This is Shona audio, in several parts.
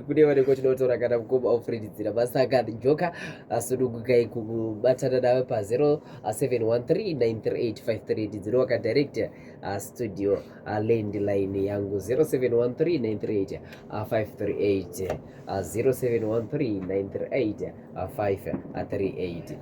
kune vanenge tinotora kana mukoma ofredidzira masaka njoka asunungukai kubatana navo pa0713938530 ndinowaka direct uh, studio uh, landline yangu 0713938530 0713938530 a 5 a 380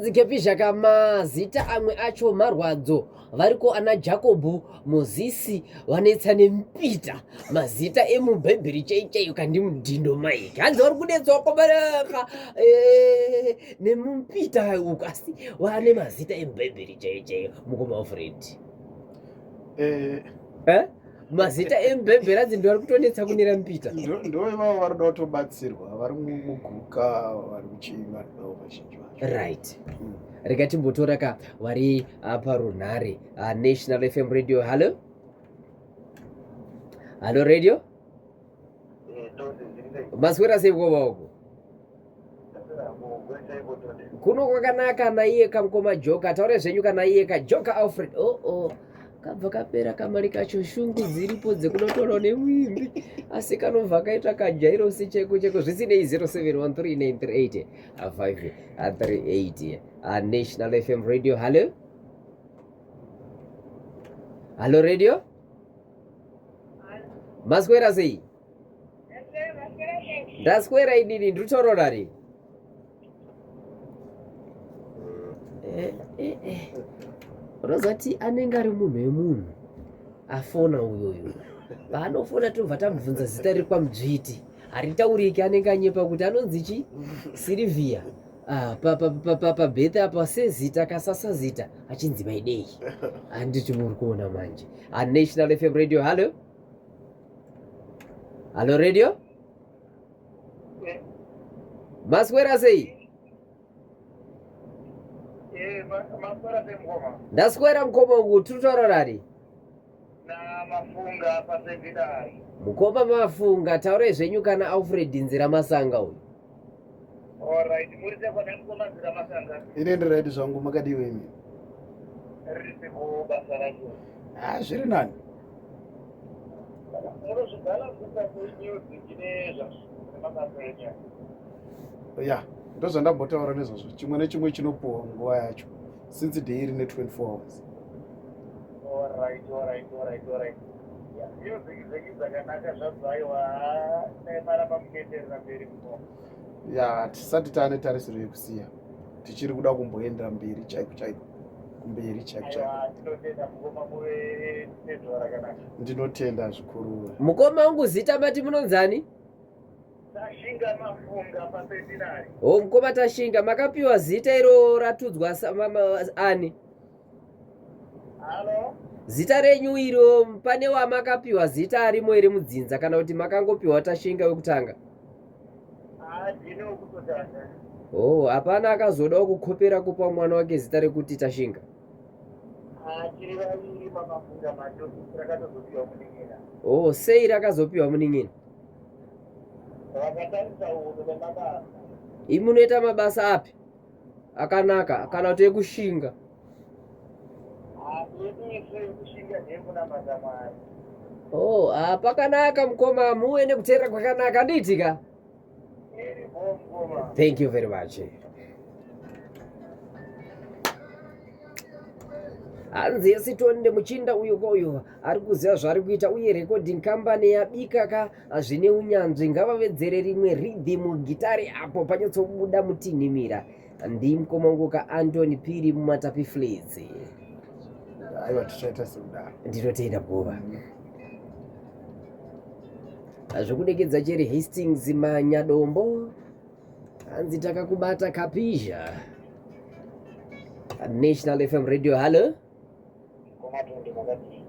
dzikepi zvakamazita amwe acho marwadzo variko ana jakobho mozisi vanetsa nemupita mazita emubhaibheri chai chaiyo kandi mudhindo maiki hanzi vari kunetsa wakabaraka eh, nemupita uku asi vane mazita emubhaibheri chaiyo chaiyo mukoma wafred eh. eh? mazita embembera dzi ndivari kutonetsa kunera mpita ndo ivavo vari kuda kutobatsirwa vari muguka vari kuchii vari kudawo vazhinji vacho right mm. rega timbotora ka vari apa ah, runhare ah, national fm radio hallo hallo radio maswera sei koma uko kuno kwakanaka naiye kamukoma joka taure zvenyu kana iye kajoka alfred oo oh, oh. kabva kapera kamari kacho shungu dziripo dzekunotorwa nemwimbi asi kanobva kaita kajairosi cheko cheko zvisinei 0713938538 anational fm radio hallo hallo radio maswera sei ndaswera inini ndiri kutorora ri eh, eh, eh. rozati anenge ari munhu wemunhu afona uyoyo paanofona tinobva tamubvunza zita riri kwamudzviti haritauriki anenge anyepa kuti anonzi chi sirivhiya ah, pabethe apa sezita kasasazita achinzi maidei handiti muri kuona manje A National FM Radio, hello. Hello radio. Maswera sei? Eh, maswera sei mkoma? Ndaswera mkoma uku tiri kutaura nani? Na mafunga pasevida. Mkoma mafunga taurai zvenyu kana Alfred Nzira Masanga uyu. Alright, muri sei kwana mkoma zira masanga? Ine ndi right zvangu makadii wenyu? Risi ku basa racho. Ah, zviri nani. Muno zvigala kusa ku news ine zvazvo. Makapenya. Ya, ndozvandambotaura nezvazvo. Chimwe nechimwe chinopuwa nguva yacho. Since day rine 24 hours. Alright, alright, alright, alright. ya tisati taane tarisiro yekusiya tichiri kuda kumboendera mberi chaiko chaiko kumberi chaiko chaiko ndinotenda zvikuru mukoma wangu zita mati munonzani tashinga mafunga paseminari ho mukoma tashinga makapiwa zita iro ratudzwa ani zita renyu iro pane wamakapiwa zita arimo iri mudzinza kana kuti makangopiwa tashinga wekutanga oh hapana akazodawo kukhopera kupa mwana wake zita rekuti tashinga oh sei rakazopiwa munin'ina imunoita mabasa api akanaka kana kuti ekushinga oh ah, pakanaka mukoma muwe nekuteera kwakanaka andiitika thank you very much hanzi yesitoni nemuchinda uyo kwauyo ari kuziva zvaari kuita uye recording company yabika ka ah, zvine unyanzvi ngavavedzere rimwe ridhimu gitare apo panyatsobuda mutinhimira ndimkomangoka antony piri mumatapi flizi aiwa tichaita sekudaro ndinotenda bhova zvekudekedza cheri hastings manyadombo hanzi takakubata kapizha national fm radio hallo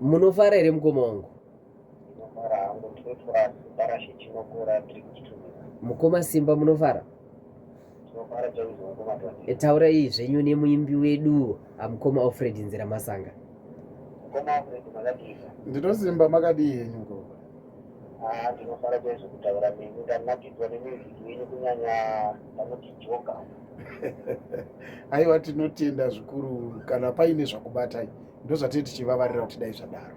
munofara here mukoma wangu mukoma simba munofara e, taura iyi zvenyu nemuimbi wedu amukoma alfred nzira masanga ndinosimba makadii henyu ko ah, ndinofara kwezvo kutaura nemi ndanakidzwa nemiziki yenyu kunyanya vanoti joka aiwa tinotenda zvikuru kana paine zvakubatai ndozvatee tichivavarira kuti dai zvadaro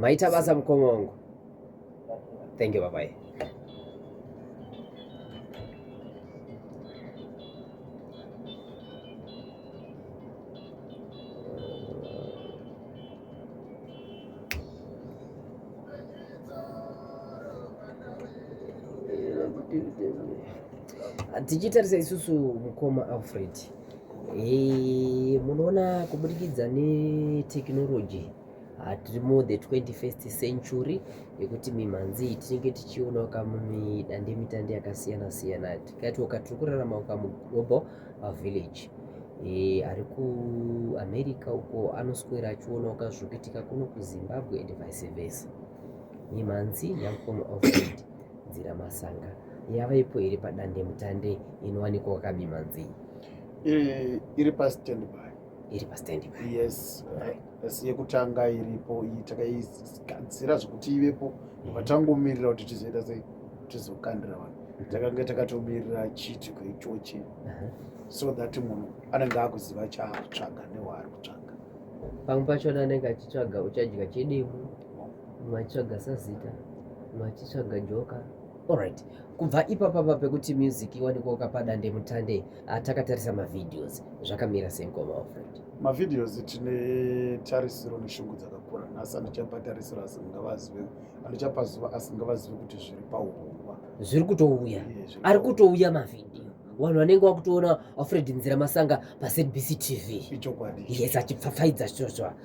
maita basa mukoma wangu thank you babai tichitarisa isusu mukoma alfred Hey, munoona kuburikidza netekinoloji tiri mu the 21st century yekuti mimhanzi iyi tinenge tichionawo kamumidandemutande yakasiyana siyana tikatiwoka tiri kurarama kamuglobal uh, village e, ari kuamerica uko anoswera achionawo kazviri kuitika kuno kuzimbabwe and vice versa mimhanzi yamukoma alfred Nzira Masanga yavaipo iri padandemutande inowanikwa kwakabi manzii eh, iri pastandby iri pastandby yes asi yekutanga iripo iyi takaigadzira zvekuti ivepo mm-hmm. vatangomirira kuti tizoita sei tizokandira vanhu mm-hmm. takanga takatomirira chiitiko ichochi uh-huh. so that munhu anenge akuziva chaakutsvaga newaari kutsvaga pamwe pachona anenge achitsvaga uchadya chedemo vachitsvaga sazita vachitsvaga joka alright kubva ipapa pa pekuti music iwanikwa ukapada ndemutande ah, takatarisa mavideos zvakamira senkoma ofred mavideos tine tarisiro neshungu dzakakura nhasi andichapa tarisiro asi ngavazive andichapa zuva asi ngavazive kuti zviri paurongwa zviri kutouya ari kutouya mavidio vanhu vanenge vakutoona afred nzira masanga pazbc tv ichokwadi yes achipfapfaidza zvozva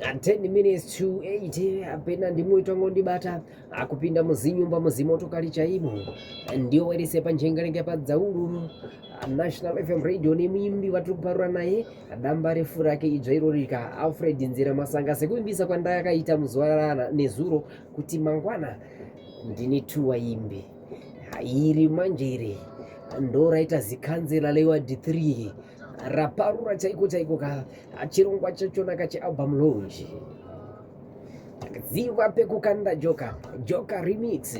and 10 minutes to 8 apena ndimwe itongo ndibata akupinda muzinyumba muzimotokari chaimo ndiyo wairese panjengarenga padzaururu national fm radio nemuimbi vatiri kuparura naye damba refu rake idzva irorika alfred nzira masanga sekuimbisa kwandayakaita muzuva nezuro kuti mangwana ndine two waimbi iri manje iri ndoraita zikanzela lewa d3 raparura chaiko chaiko ka chirongwa chachona ka chealbum launch ziva pekukanda joka joka remix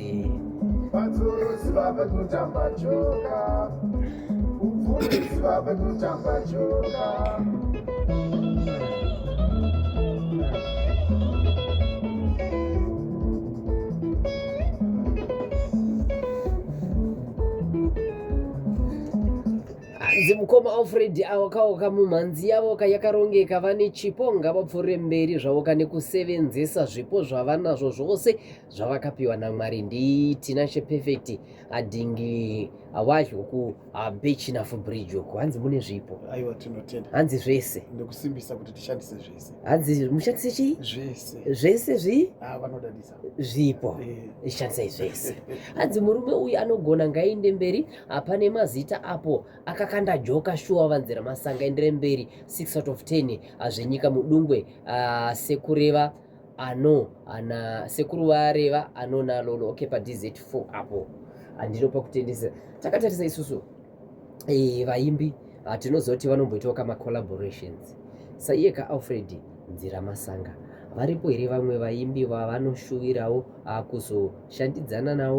hanzi mukoma alfred avo kaoka mumhanzi yavo ka yakarongeka vane chipo ngavapfuure mberi zvavo ka nekusevenzesa zvipo zvavanazvo zvose zvavakapiwa namwari nditina cheperfect adhingi awazho ku abechinafu bridge uku hanzi mune zvipo aiwa tinotenda hanzi zvese ndikusimbisa kuti tishandise zvese hanzi mushandise chii zvese zvese zvii ah, vanodadisa zvipo ishandisai zvese hanzi murume uyu anogona ngainde mberi hapane mazita apo akakanda joka shuwa vanzira masanga endere mberi 6 out of 10 hazvenyika mudungwe uh, sekureva ano ana sekuru vareva anonalolo okay padz4 apo handinopa kutendesa takatarisa isusu eh, vaimbi ah, tinozoti vanomboitawo kama collaborations saiye ka alfred nzira masanga varipo here vamwe vaimbi vavanoshuvirawo ah, kuzoshandidzana nawo